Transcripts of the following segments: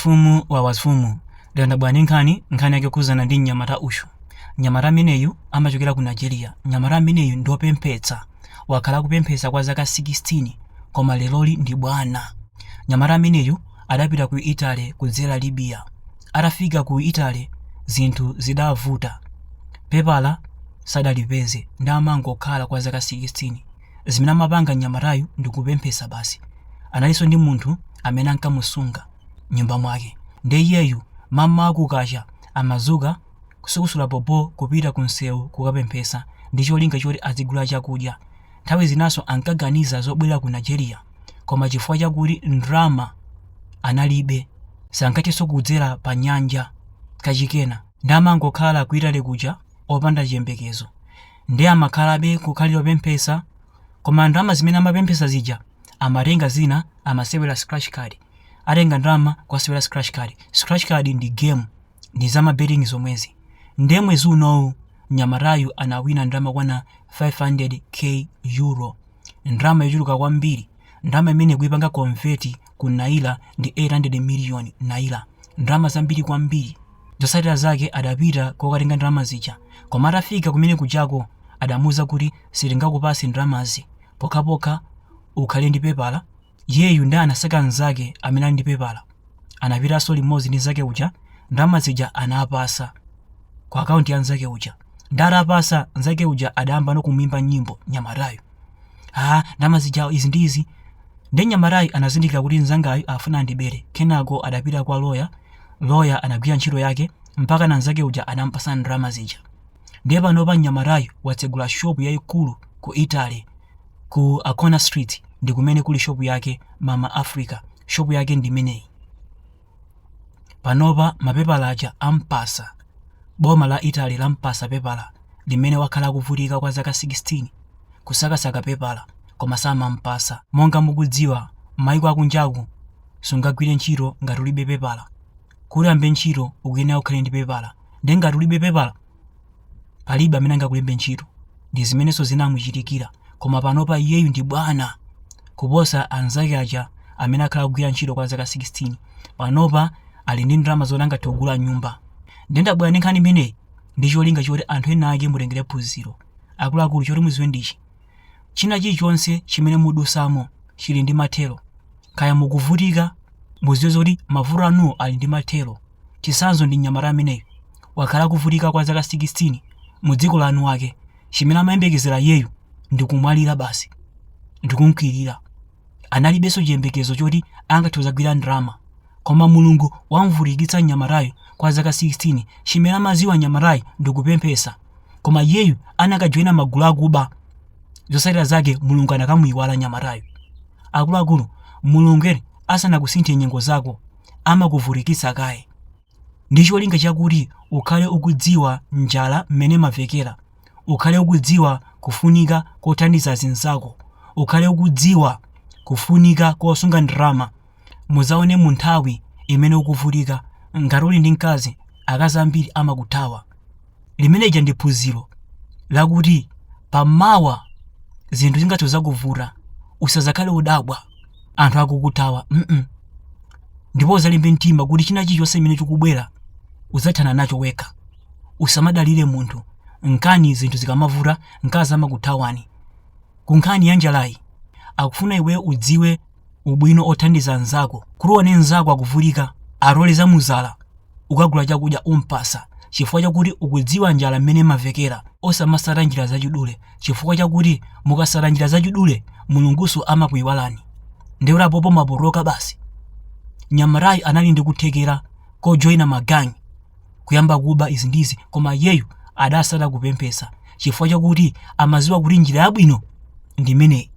Mfumu wa mafumu, yandidabwitsa nkhani, nkhani yake yokhudzana ndi mnyamata uyu. Mnyamata ameneyu amachokera ku Nigeria. Mnyamata ameneyu ndi wopemphetsa. Wakhala akupemphetsa kwa zaka 16 koma leroli ndi bwana. Mnyamata ameneyu adapita ku Italy kudzera ku Libya. Atafika ku Italy zinthu zidavuta. Pepala sadalipeze nde amangokhala kwa zaka 16. Zimene amapanga mnyamatayu ndi kupemphetsa basi. Analinso ndi munthu amene ankamusunga m'nyumba mwake. Ndiye iyeyu mamawa kukacha amadzuka kusukusula bobo kupita kumsewu kukapemphetsa ndi cholinga choti azigulira chakudya. Nthawi zinanso ankaganiza zobwerera ku Nigeria koma chifukwa chakuti ndalama analibe, sankathenso kudzera panyanja kachikenanso. Ndiye amangokhala ku Italy kuja opanda chiyembekezo. Ndiye amakhalabe kukhalira kupemphetsa koma ndalama zimene amapemphetsa zija amatenga zina amasewera scratch card. Atenga ndalama kukasewera scratch card. Scratch card ndi game, ndi za ma betting zomwezi. Ndiye mwezi unowu mnyamatayu anawina ndalama yokwana 500 K Euro. Ndalama yochuluka kwambiri. Ndalama imene kuipanga convert ku Naira ndi 800 miliyoni Naira. Ndalama zambiri kwambiri. Zotsatira zake adapita kokatenga ndalama zija koma atafika kumene kujako adamuuza kuti sitingakupase ndalamazi pokhapokha ukhale ndi pepala, iyeyu ndiye anasaka nzake amene ali ndi pepala anapitanso limodzi ndi nzake uja ndalama zija anampasa ku account ya nzake uja nde atampasa nzake uja adayambano kumuimba nyimbo nyamatayu ah ndalama zija izi ndi izi nde nyamatayu anazindikira kuti nzangayu afuna andibere kenako adapita kwa loya Lawyer anagwira ntchito yake mpakana nzake uja adamupasa ndalama zija. Ndiye panopa mnyamatayu watsegula shop yaikulu ku Italy ku Ancona Street ndi kumene kuli shop yake Mama Africa. Shop yake ndi imeneyi. Panopa mapepala aja ampasa. Boma la Italy lampasa pepala limene wakhala akuvutika kwa zaka 16 kusakasaka pepala koma samampasa. Monga mukudziwa maiko akunjaku sungagwire ntchito ngati ulibe pepala kuti uyambe ntchito ukuyenera ukhale ndi pepala nde ngati ulibe pepala palibe amene angakulembe ntchito ndi zimenenso zinamuchitikira koma panopa iyeyu ndi bwana kuposa anzake aja amene akhala akugwira ntchito kwa zaka 16 panopa ali ndi ndalama zoti angathe kugula nyumba nde ndabwera ndi nkhani imeneyi ndi cholinga choti anthu ena ake mutengere phunziro akuluakulu choti muziwe ndichi China chilichonse chimene mudusamo chili ndi mathero. Kaya mukuvutika, muziwe zoti mavuto anuwo ali ndi mathero. Chitsanzo ndi mnyamata ameneyu. Wakhala akuvutika kwa zaka 16 mu dziko la eni wake. Chimene amayembekezera iyeyu ndi kumwalira basi. Ndi kumkwirira. analibenso chiyembekezo choti angathe kudzagwira ndalama koma mulungu wamvutikitsa mnyamatayu kwa zaka 16 chimene amaziwa mnyamatayu ndikupemphesa koma iyeyu akanajoyina magulu akuba zosatira zake mulungu akanamuyiwala mnyamatayu akuluakulu mulungu ali asanakusinthe nyengo zako amakuvutikitsa kaye ndi cholinga chakuti ukhale ukudziwa njala mmene imawawira, ukhale ukudziwa kufunika kothandiza azinzako, ukhale ukudziwa kufunika kosunga ndalama, mudzaone mu nthawi imene ukuvutika, ngati uli ndi mkazi, akazi ambiri amakuthawa. limeneja ndi phunziro lakuti pamawa zinthu zikadzakuvuta usazakhale udabwa anthu akukuthawa mm -mm. ndipo uzalimbe mtima kuti china chilichonse chimene chikubwera uzathana nacho wekha usamadalire munthu nkhani zinthu zikamavuta mkazi amakuthawani ku nkhani ya njalayi akufuna iwe udziwe ubwino othandiza anzako kuti uone mnzako akuvutika atole za mudzala ukagula chakudya umpasa chifukwa chakuti ukudziwa njala mmene imavekera osamasata njira zachidule chifukwa chakuti mukasata njira zachidule mulunguso amakuyiwalani ndekuti apopo mwapholika basi mnyamatayu anali ndi kuthekera kojoyina magang kuyamba kuba izi ndizi koma iyeyu adasata kupemphesa chifukwa chakuti amaziwa kuti njira yabwino ndi imeneyi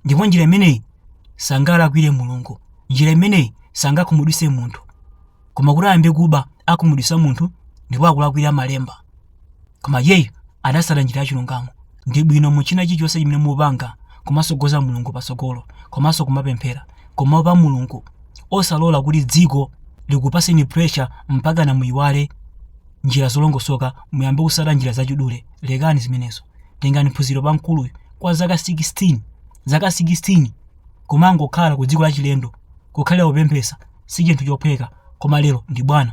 ndipo njira imeneyi sangalakwire mulungu njira imeneyi sangakhumudwise munthu koma kuti ayambe kuba akhumudwisa munthu ndipo akulakwira malemba koma iyeyu adasata njira ya chilungamo ndi bwino mu china chilichonse chimene mupanga kumasogoza mulungu patsogolo komanso kumapemphera kumaopa mulungu osalola kuti dziko likupaseni pressure mpakana muyiwale njira zolongosoka muyambe kusata njira zachidule lekani zimenezo tengani phunziro pa mkuluyu kwa zaka 16 zaka 16 kumangokhala ku dziko lachilendo kukhalira kupemphesa si chinthu chophweka koma lero ndi bwana